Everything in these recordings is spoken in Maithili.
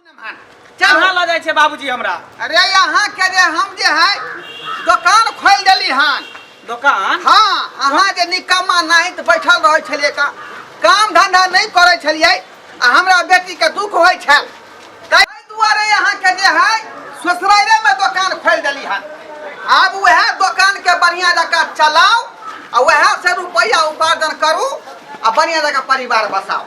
कहाँ लऽ जाइ छै बाबूजी हमरा अरे यहाँ के जे हम जे है दुकान खोल देली हन दोकान हाँ अहाँ जे निकम्मा नहीं तो बैठल रहे छलिए का काम धंधा नहीं करे छलिए आ हमरा बेटी के दुख होय छल ताहि दुआरे यहाँ के जे है ससुराले में दुकान खोल देली हन आब वह दुकान के बढ़िया जका चलाओ आ वह से रुपया उपार्जन करू आ बढ़िया जका परिवार बसाओ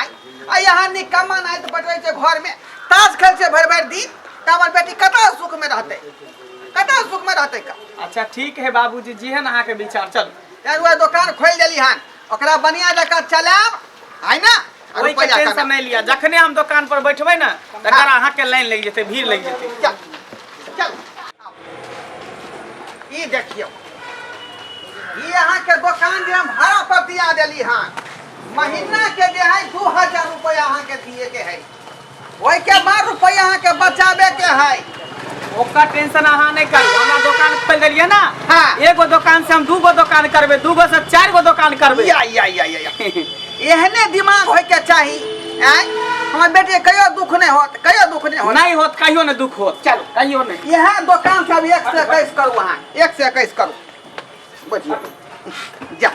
आय आ यहाँ निकम्मा नाय तो बैठे छै घर में ताश खेल छै भर भर दिन तो हमर बेटी कता सुख में रहते कता सुख में रहते का अच्छा ठीक है बाबूजी जेहन अहाँ के विचार चल यार वो दुकान खोल देली हन ओकरा बढ़िया जका चलाब है ना और ओहि के रुपया टेंशन कमाब। नहीं लिया जखने हम दुकान पर बैठबै ने तकर अहाँ के लाइन लग जेतै भीड़ लग जेतै चल। ई देखियौ ई अहाँके दोकान जे हम भाड़ा पर दिया देली हँ महीना के जे है दू हजार रुपया अहाँके दिए के है ओहि के बाद रुपया अहाँके बचाबे के है ओकर टेंशन अहाँ नहीं करू हमरा दुकान खोल देलिए ना हाँ। एगो दुकान से हम दूगो दुकान करबे दूगो से चार गो दुकान करबे या या या या या। एहने दिमाग होय के चाही आय हमर बेटी के कहियो दुख नहीं होत कहियो दुख नहीं होत नहीं होत कहियो ने दुख होत चलो कहियो ने यह दुकान से अभी एक से इक्कीस करू अहाँ एक से इक्कीस करू बुझिए जा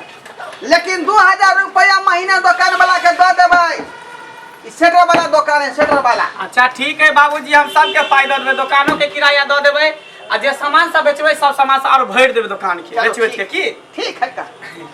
लेकिन दू हजार रुपया महीना दुकान वाला के दऽ देबै ई सेटर वाला दुकान है सेटर वाला अच्छा ठीक है बाबूजी हम सबके पाई दऽ देबै दोकानो के किराया दऽ देबै आ जे सामान सब बेचबै सब सामान सब और भरि देबै दोकान के चलो, बेच बेच के ठीक- की ठीक है का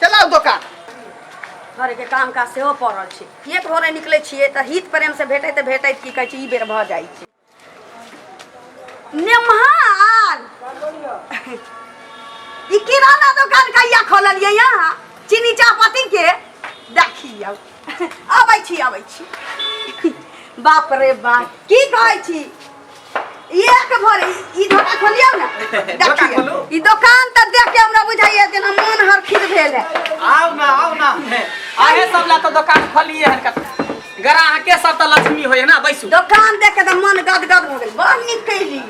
चला दोकान घर के काम काज सेहो पड़ल छै एक भोरे निकलै छियै तऽ हित प्रेम से भेटै तऽ भेटै की कहै छै ई बेर भऽ जाइ छै नेम्हार ई किराना दोकान कहिया खोललियै यहाँ चीनी चाहपत्ती के देखियौ अबै छी अबै छी बाप रे बाप की कहै छी एक भर ई धर के खोलियो ना दोकान देखिए खोलू। ई दुकान त देख के हमरा बुझाइए जेना मन हरखित भेल है आओ ना आओ ना आगे सब ला तो दुकान खोलिए हन का ग्राह के सब तो लक्ष्मी होय ना बैसू दुकान देख के त मन गदगद हो गेल बड़ नीक कैली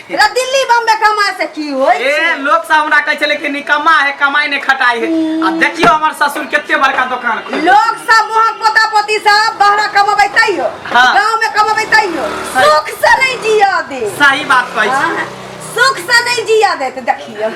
रे दिल्ली बम्बे कमाए से की होय ए छै? लोग सब हमरा कहै छले कि निकम्मा है कमाई ने खटाई है आ देखियो हमर ससुर केते बड़का दुकान खोल लोग सब वहाँ पोता पोती सब बहरा कमबै तैयो हाँ। गांव में कमबै तैयो हाँ। सुख से नहीं जिया दे सही बात कहै छी हाँ, सुख से नहीं जिया दे तो देखियो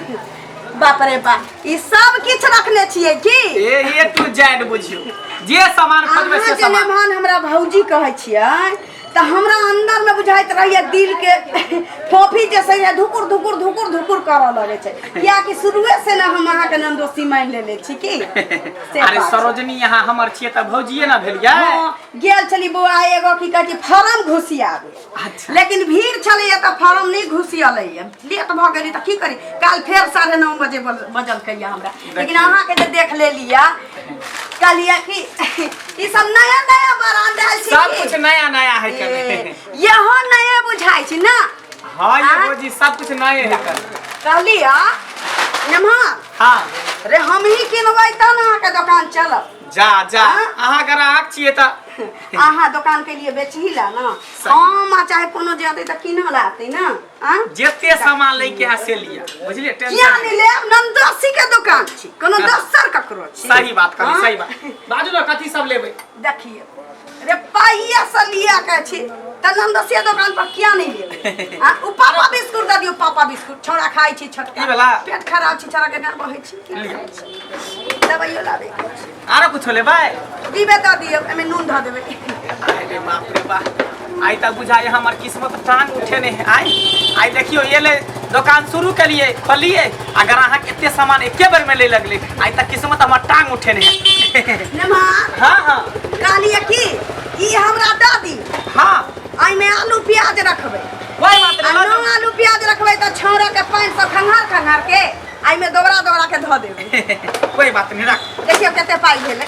बाप रे बाप ई सब किछ रखले छिए की ए ए टू जेड बुझियो जे सामान खोजबै अहाँ से जे सामान मेहमान हमरा भौजी कहै छियै तऽ हमरा अंदर में बुझाइत रहैया दिल के फोफी जे छै ने धुकुर धुकुर धुकुर धुकुर करऽ लगै छै कियाकि शुरुए से ने हम अहाँके नाम दोस्ती मानि लेले छी की से अरे बात छै। सरोजनी यहाँ हमर छियै तऽ भौजिये ना भेलियै हाँ, गेल छली बौआ एगो की कहै छै फार्म घुसियाबे अच्छा लेकिन भीड़ छलैए तऽ फार्म नहि घुसियलैए लेट भऽ गेली तऽ की करी काल्हि फेर साढ़े नओ बजे बज- बजलकैए हमरा लेकिन अहाँके जे देख लेलिए कहलिए कि ई सब नया नया बरांड आयल छै सब की? कुछ नया नया है ए, कभी यहो नया बुझाइ छै ना हाँ ये आ? वो जी सब कुछ नए है कभी कहलिए नमहर हाँ रे हमही किनबै तब अहाँके दोकान चलब जा जा अहाँ ग्राहक छियै तऽ अहाँ दोकान के लिए बेचही ला ना सही। हम आ चाहे कोनो जे अतै तऽ किनऽ ला अतै ना आ जते सामान लै के है से लिया बुझलियै किया टेंशन नहि लेब नंदोसी के दोकान छी कोनो दोसर ककरो छी सही बात कहली हाँ? सही बात बाजू ने कथी सब लेबै देखिए अरे पाइया से लिया के छी त नंदसिया दुकान पर किया नहीं ले आ उ पापा बिस्कुट द दियो पापा बिस्कुट छोड़ा खाई छी छोटका ई वाला? पेट खराब छी छोड़ा के ना बहे छी लिया। दवाइयो लाबे के छी। आरो कुछ ले भाई दीबे द दियो एमे नून ध देबे अरे बाप रे बाप आई तब बुझाए हमर किस्मत टांग उठे ने आई आई देखियो ये ले दुकान शुरू करिए खोलिए अगर अहाँ के एते सामान एके बेर में ले लगले आई तक किस्मत हमर टांग उठे ने नमा हां हां कहलिए की ई हमरा द दी हां आई में आलू प्याज रखबे कोई बात आ नहीं नौ आलू प्याज रखबे त छौरा के पानी से खंगार खंगार के आई में दोबरा दोबरा के धो देबे कोई बात नहीं रख देखियो कते पाई भेले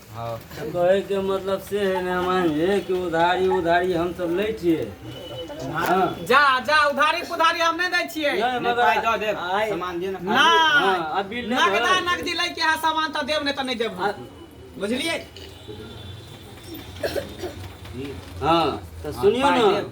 हँ कहैके मतलब से है मेहमान जे कि उधारी उधारी हम सब लै छियै हँ जा जा उधारी पुधारी हम नहि दै छियै नहि, नहि मगर पाइ दऽ देब आइ- सामान दे ने पाइ। नहि हँ, आ बिल नहि नगदा भरल। नगदी लै के है सामान तऽ देब नहि तऽ नहि देब आ- बुझलियै हँ तऽ सुनियौ पाइ ने देब।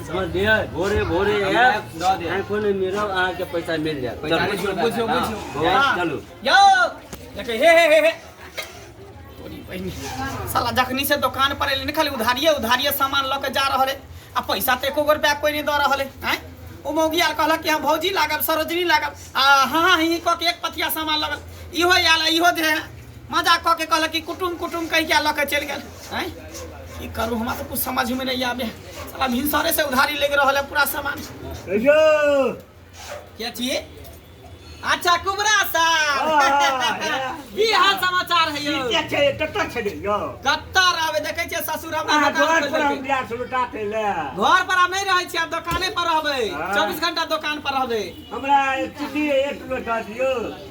समझ लिया भोरे भोरे आईफोन में मिलो अहाँ के पैसा मिल जाए पैसा बुझो बुझो बुझो हाँ। चलो यो देखे हे हे हे साला जखनी से दुकान पर एलिन खाली उधारिए उधारिए सामान लऽ के जा रहल है आ पैसा तो एको रुपया कोई नहीं दऽ रहल है आँय ओ मौगी आर कहलक कि हम भौजी लागब सरोजनी लागब आ हाँ हाँ ही कऽ के एक पथिया सामान लगल इहो आयल इहो दे मजाक कऽ के कहलक कि कुटुम कुटुम कहि क्या लऽ के चलि गेल हैं की करू हमरा तऽ कुछ समझ में नहीं आबे साला भिनसरे से उधारी लेके रहल है पूरा सामान क्या छी अच्छा कुबरा साहब की हाल समाचार है यौ कत्तर आबे देखै छियै ससुर हमरा दोकान खोलि देलकै। घर पर आब नहीं रहै छी आब दोकाने पर रहबै हाँ। चौबीस घंटा दोकान पर रहबै हमरा एक किलो दऽ दियौ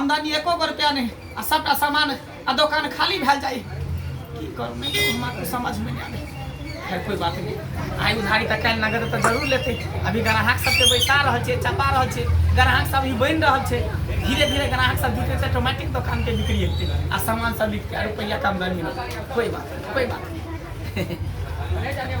आमदनी एको गो रुपया नहीं आ सबटा सामान आ दुकान खाली भैल जाए की करू नहीं करू हमरा कुछ समझ में नहीं आवे खैर कोई बात नहीं आइ उधारी तऽ काल्हि नगद तऽ जरूर लेते अभी ग्राहक सबके बैसा रहल छै चपा रहल छै ग्राहक सब अभी बनि रहल छै धीरे धीरे ग्राहक सब जुटे छै ऑटोमेटिक दुकान के बिक्री हेतै आ सामान सब बिकतै आ रुपैया के आमदनी होतै कोई बात नहीं कोई बात नहीं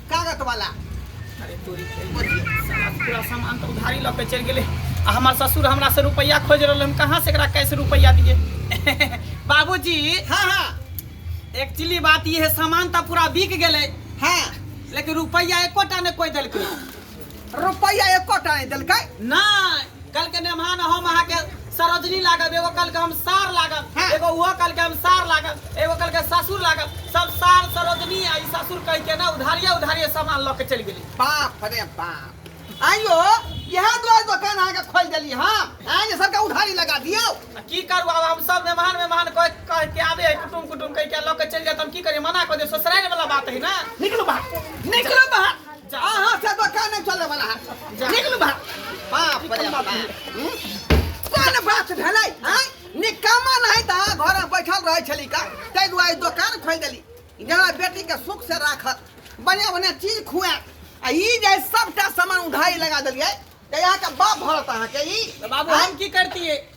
कागत वाला अरे तोरी के साला पूरा सामान तो उधारी लऽ के चलि गेलै आ हमर ससुर हमरा से रुपैया खोज रहल हम कहाँ से एकरा कैसे रुपैया दिए बाबूजी हाँ हाँ एक्चुअली बात ई है सामान तो पूरा बिक गेलै हाँ लेकिन रुपैया एकोटा ने कोई देलकै रुपैया एको टा नहीं दिलक नहीं कल के मेहमान हम अहा के सरोजनी लागब एगो कल के हम सार लागब हाँ। एगो वो कल के हम सार लागब एगो कल के ससुर लागब सब सार सरोजनी आ ससुर कह के ना उधारिया उधारिया सामान लऽ के चल गेली बाप रे बाप आइयो यह दो दुकान अहा के खोल दिली हां आए जे सबके उधारी लगा दियो की करू अब हम सब मेहमान मेहमान कह कह के आबे है कुटुम कुटुम कह के लऽ के चल जात हम की करी मना कर दे ससुराल वाला बात है ना निकलो बाहर निकलो बाहर अहाँ से तो कान नहीं चले वाला है निकलू बा बाप रे बाप हम्म? कोन बात भेलै आय निकामा नहीं ता घर में बैठल रहै छली का तै दुआरे दुकान खोल देली जेना बेटी के सुख से राखत बढ़िया बढ़िया चीज खुआ आ ई जे सबटा सामान उधारी लगा देलियै तऽ अहाँके बाप भरत अहाँके ई तऽ बाबू आँय? हम की करतियै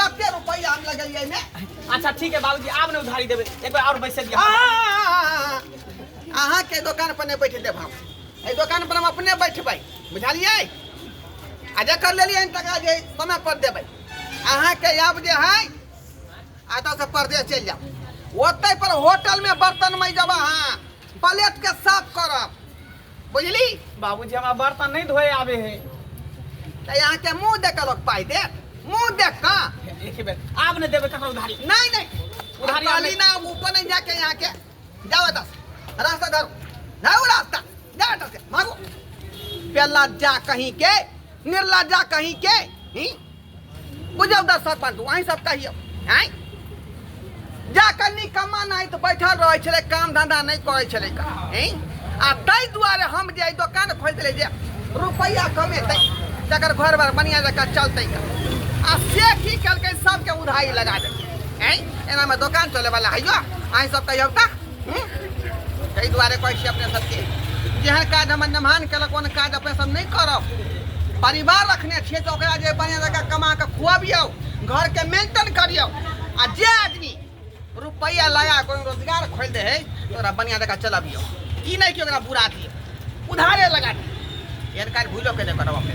कते रुपया हम लगलिए में अच्छा ठीक है बाबूजी आब ने उधारी देबे एक बार और बैसे दिया अहाँ के दुकान पर नहीं बैठ देब हम ए दुकान पर हम अपने बैठबै बुझलिए आ जकर लेलिए टका जे समय पर देबै अहाँ के आब जे है आ तो से परदेश चल जाओ ओतै पर होटल में बर्तन में जब अहाँ प्लेट के साफ करब बुझली बाबूजी हमरा बर्तन नहीं धोए आवे है तऽ यहाँ के मुंह देख के लोग पाई दे मुंह देख का एक बेर आब ने देबे ककरो उधारी नहीं नहीं उधारी आब उधारी ना ऊपर नहीं जाके यहाँ के जाओ दस रास्ता धरो धरो रास्ता जा बेटा से भागो पेला जा कहीं के निर्ला जा कहीं के ही बुझल दस सरपंच वहीं सब कहियो आँय जा कऽ निकम्मा नाइत बैठल रहै छलै काम धंधा नहि करै छलै का आँय आ ताहि दुआरे हम जे ई दोकान खोलि देलियै जे रुपैआ कमेतै जकर घर बार बढ़िआँ जकाँ चलतै का आ से की केलकै सबके उधारी लगा देलकै आँय एनामे दोकान चलैवला हैयो अहीं सब कहियौ तऽ ताहि दुआरे कहै छी अपने सबके जेहन काज हमर नमहान केलक ओहन काज अपने सब नहि करब परिवार रखने छियै तऽ ओकरा जे बढ़िआँ जकाँ कमा कऽ खुअबियौ घरके मेंटेन करियौ आ जे आदमी रुपैआ लगा कऽ ओहिमे रोजगार खोलि दै हइ तऽ ओकरा बढ़िआँ जकाँ चलबियौ ई नहि कि ओकरा बुरा दियौ उधारे लगा दियौ एहन काज भूलो के नहि करब अपने